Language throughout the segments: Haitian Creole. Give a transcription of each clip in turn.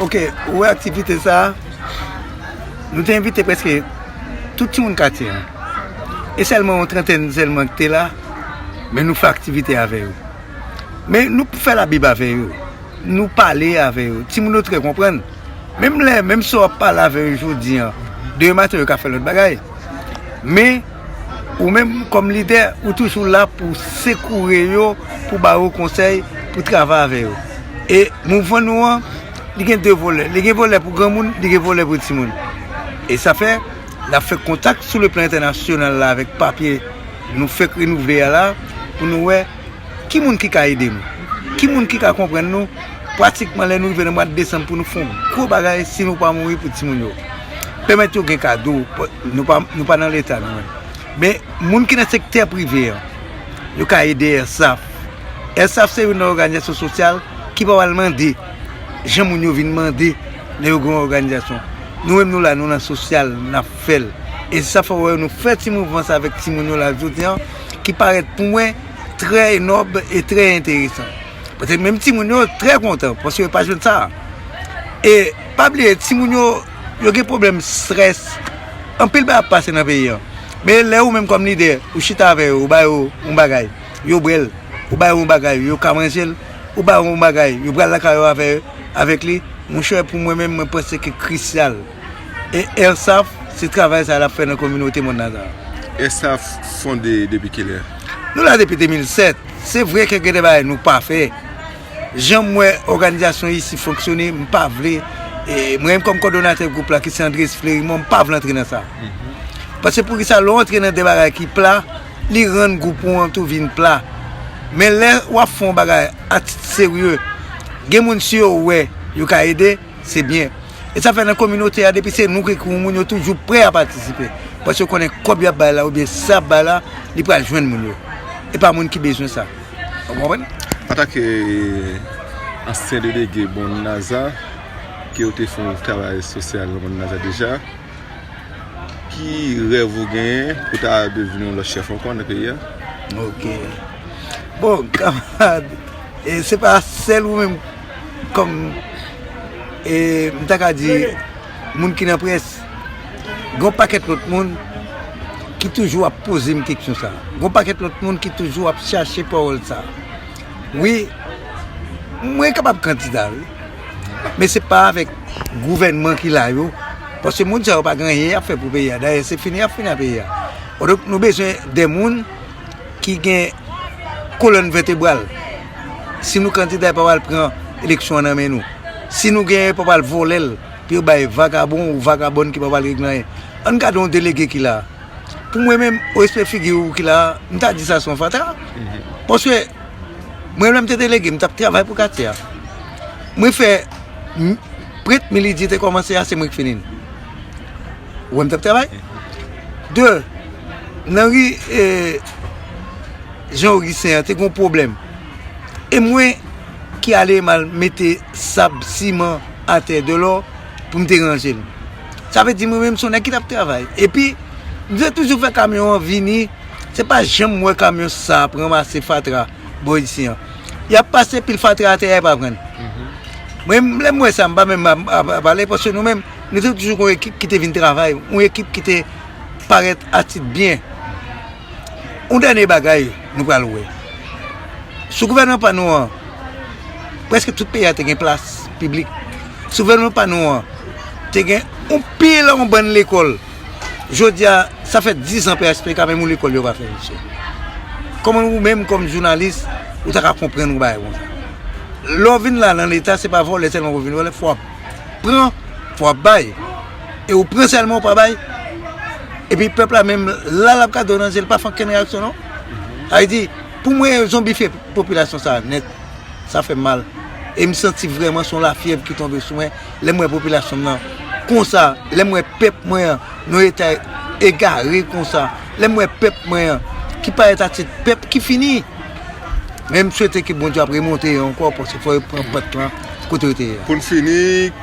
Ok, ou wè aktivite sa a, nou te envite prèske tout timoun katye a. E sèlman yon trantèn sèlman ki te la, men nou fè aktivite avè yo. Men nou fè labib avè yo, nou pale avè yo, timoun yo trè konprann. Menm lè, menm si w ap pale avè yo jodi an, demen maten yo ka fè lòt bagay. Men. Ou menm kòm lidè, ou toujou la pou sekoure yo, pou ba yo konsèy, pou travay avè yo. E mouvman nou an, li gen 2 volè. Li gen volè pou granmoun, li gen volè pou timoun. E sa fè, n ap fè kontak sou le plan entènasyonal la avèk papye nou fèk renouvle a la pou nou wè. Ki moun ki ka ede nou? Ki moun ki ka konprann nou pratikman lè nou rive nan mwad desanm pou nou fè yon gwo bagay si nou pa mouri pou timoun yo? Pèmèt yo gen kado, nou pa nan leta nou menm. Men, moun ki nan sektè prive an, yo ka ede ERSAF. ERSAF se youn nan òganizasyon sosyal ki pa pral mande jan moun yo vin mande lè yo gen yon òganizasyon. Nou menm nou la, nou nan sosyal, n ap fè l. E se sa fè w wè nou fè ti mouvman sa avèk timoun yo la jodi an. ki parèt pou mwen trè nòb e trè enteresan. Pase menm ti moun yo trè kontan pase yo pa jwenn sa. E pa bliye ti moun yo yo gen problem strès anpil ba ap pase nan peyi yo. Men lè ou menm kòm lidè ou chita avè yo ou ba yo yon bagay yo bwèl, ou ba yo yon bagay yo ka manjel, ou ba yo yon bagay yo pral lakay yo avè yo avèk li. Monchè pou mwen menm mwen panse ki krisyal. E ERSAF se travay sa lap fè nan kominote mòn Nazareth. ERSAF fonde depi kilè? Nou la depi 2007. Se vre ke gen de bagay nou pa fè. Jan m wè òganizasyon isi fonksyone, m pa vle, mwen menm kòm kòdonatè gwoup la ki se Andres Flerimond, m pa vle antre nan sa. Paske poukisa lè w antre nan de bagay ki pla, li rann gwoup ou an tou vin pla. Men lè wap fè yon bagay a tit serye, gen moun si yo wè, yo ka ede. Se byen. E sa fè nan kominote a depi se nou ki ekri yon moun yo toujou prè a patisipe. Paske yo konnen kòb y ap bay la oubyen sa y ap bay la li pral jwenn moun yo. E pa moun ki bezwen sa. Ou konprann? Antanke ansyen delege Bon Naza, ke ou te fè yon travay sosyal nan Bon Naza deja, ki rèv ou genyen pou ta devni yon lòt chèf ankò nan peyi a? Ok. Bon, kamarad, se pa sèl ou menm. kòm e m ta ka di moun ki nan près, gen yon pakèt lòt moun ki toujou ap poze m keksyon sa a. Gen yon pakèt lòt moun ki toujou ap chache pawòl sa a. Wi, mwen kapab kandida wi, men se pa avèk gouvènman ki la yo, paske moun sa yo pa gen anyen y ap fè pou peyi a. Dayè se fini y ap fini a peyi a. Kidonk nou bezwen de moun. ki gen kolòn vètebral. Si nou kandida yo pa pral pran eleksyon an nan men nou. Si nou genyen yo pa pral vòlè l pou yo bay vagabon ou vagabòn ki pa pral regle anyen. An n gade yon delege ki la a. Pou mwen menm, o respè figi ou ki la a, m ta di sa se yon fatra. Paske mwen lè m te delege, m t ap travay pou katye a. Mwen fè prent milidye te kòmanse a, se mwen ki fini l. Ou wè m t ap travay? De, nan ri Jean Augustin an te gen yon pwoblèm. E mwen ki ale m al mete sab, siman atè de lò pou m te ranje l. Sa vle di mwen menm son nèg ki t ap travay. E pi, m te toujou fè kamyon an vini, se pa janm wè kamyon sa ap ranmase fatra bò isi an. Y ap pase pil fatra atè a e pa pran l. Mwen menm lè m wè sa m pa menm ap pale paske nou menm. Nou te toujou gen yon ekip ki te vin travay, yon ekip ki te parèt atit byen. Yon dènye bagay nou pral wè. Sou gouvènman pa nou an, prèske tout peyi a te gen plas piblik. Sou gouvènman pa nou an, te gen yon pil, yon bann lekòl. Jodi a, sa fè 10 an PHTK, menm yon lekòl yo pa fè, mesye. Kòman ou menm kòm jounalis, ou ta ka konprann yon bagay konsa? Lè w vin la nan Leta, se pa vòlè sèlman pou w vin vòlè, fò w ap. pran fò wap bay e ou pran sèlman ou pa bay epi pèp la menm la lap gade w nan zye li pa fè ankenn reyaksyon non sa vle di pou mwen yo zonbifye popilasyon sa nèt sa fèm mal e m santi vrèman son lafyèv ki tonbe sou mwen lè m wè popilasyon m nan konsa lè m wè pèp mwen an nou etay egare konsa lè m wè pèp mwen an ki parèt atit pèp ki fini. Men m swete ke Bondye ap remonte yo ankò paske fò yo pran pant lan kote yo te ye a. Pou n fini,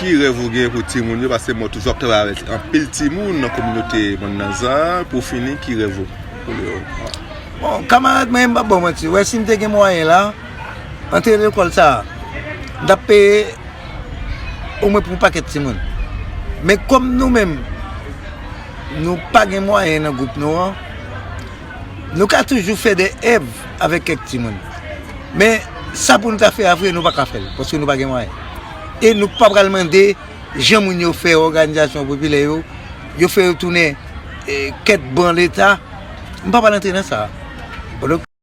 ki rèv ou gen pou timoun yo paske mwen toujou ap travay avèk anpil timoun nan kominote Bannanza a, pou w fini ki rèv ou pou yo? Bon, kamarad mwen, m p ap ba w manti, wè si m te gen mwayen la, antre lekòl sa a, m t ap peye omwen pou yon pakèt timoun. Men kòm nou menm nou pa gen mwayen nan gwoup nou an. Nou ka toujou fè de èv avèk kèk timoun. Men, sa pou nou ta fè a vre, nou pa ka fè l, paske nou pa gen mwayen. E nou pa pral mande jan moun yo fè òganizasyon popilè yo, yo fè yo tounen kèk ban leta. M pa pral antre nan sa a.